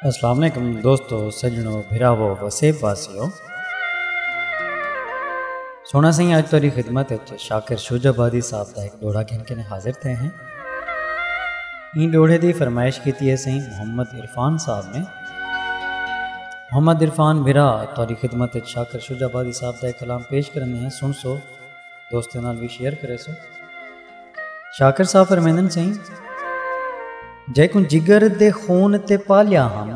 السلام علیکم دوستو سجنو بھراو وسیب واسیو سونا سائیں اج تیری خدمت اچ شاکر شوج آبادی صاحب دا ایک ڈوڑا گھن کے حاضر تھے ہیں این ڈوڑے دی فرمائش کیتی ہے سائیں محمد عرفان صاحب نے محمد عرفان بھرا تیری خدمت اچ شاکر شوج آبادی صاحب دا ایک کلام پیش کرنے ہیں سن سو دوستوں نال بھی شیئر کرے سو شاکر صاحب فرمیندن سئیں جیکوں جگر دے خون تے پالیا ہم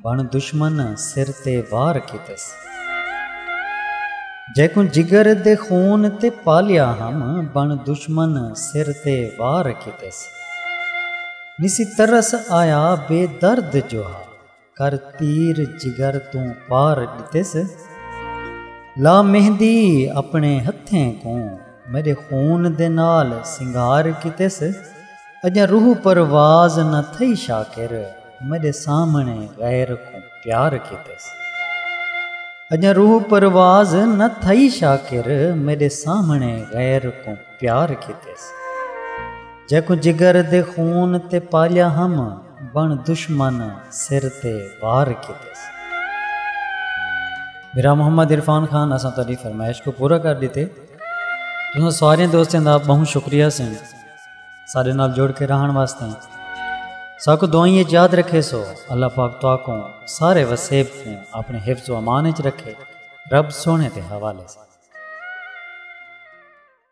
بن دشمن سر تے وار کیتس جیکوں جگر دے خون تے پالیا ہم بن دشمن سر تے وار کیتس نسی ترس آیا بے درد جو ہا کر تیر جگر توں پار ݙتس لا مہندی اپݨے ہتھیں کوں میݙے خون دے نال سنگھار کیتس اڄاں روح پرواز نہ تھئی شاکر میݙے سامݨے غیر کوں پیار کیتس اڄاں روح پرواز نہ تھئی شاکر میݙے سامݨے غیر کوں پیار کیتس جیکوں جگر دے خون تے پالیا ہم بݨ دشمن سر تے وار کیتس۔ میرا محمد عرفان خان اساں تہاݙی فرمائش کوں پورا کر ݙتے۔ تساں سارے دوستاں دا ٻہوں شکریہ سئیں ساݙے نال جڑ کے رہݨ واسطے۔ ساکوں دعائیں اچ یاد رکھیسو۔ اللہ پاک تہاکوں سارے وسیب کوں اپݨے حفظ و امان اچ رکھے۔ رب سوہݨے دے حوالے سئیں۔